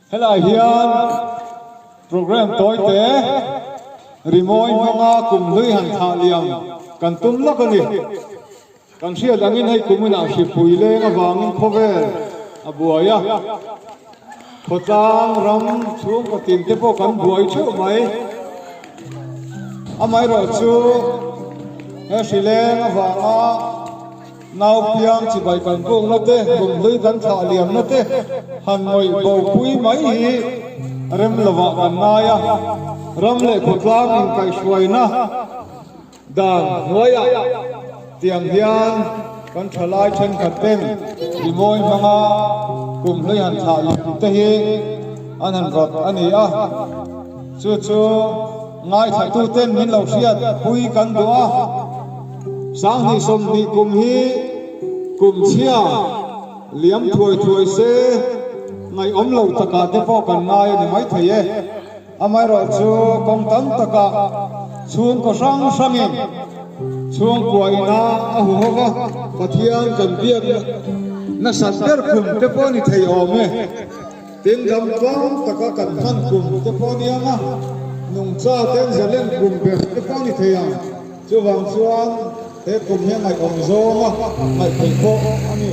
Helai hian programme tawi te rimawi hmanga kum hlui han thah liam kan tum lak a ni. Kan hriat angin hei kuminah hripui leng avangin khawvel a buai a. Khawtlang ram chhungkaw tin te pawh kan buai theuh mai. Amaherawh chu he hri leng avanga nau piang chibai kan bukna te, rumhlui kan thlah liamna te han mawih bopui mai hi rem lovah kan ngai a. Ram leh khawtlang inkaihhruaina. Dan hnuaiah tiang hian kan thalai thenkhat ten Bimawi hmanga kum hleihan thlah lem te hi an han rawt a ni a, chu chu ngaithla-tu ten min lo hriat pui kan duh a. Sanghnih sawmhnih kum hi kum chhia liam thuai thuai se ngaihawm lo takah te pawh kan ngai a ni maithei e. Amaherawh chu kawng tam takah chhungkaw hrang hrangin chhungkua ina a hu ho va, Pathian kan biak nasat ber khum te pawh ni thei awm e. Tin lam tlang taka kan hman kum te pawh ni ang a, nungcha ten zalen kum ber te pawh ni thei ang. Chuvang chuan he kum hi a ngaihawm zawng a, ngaih theih bawk a ni.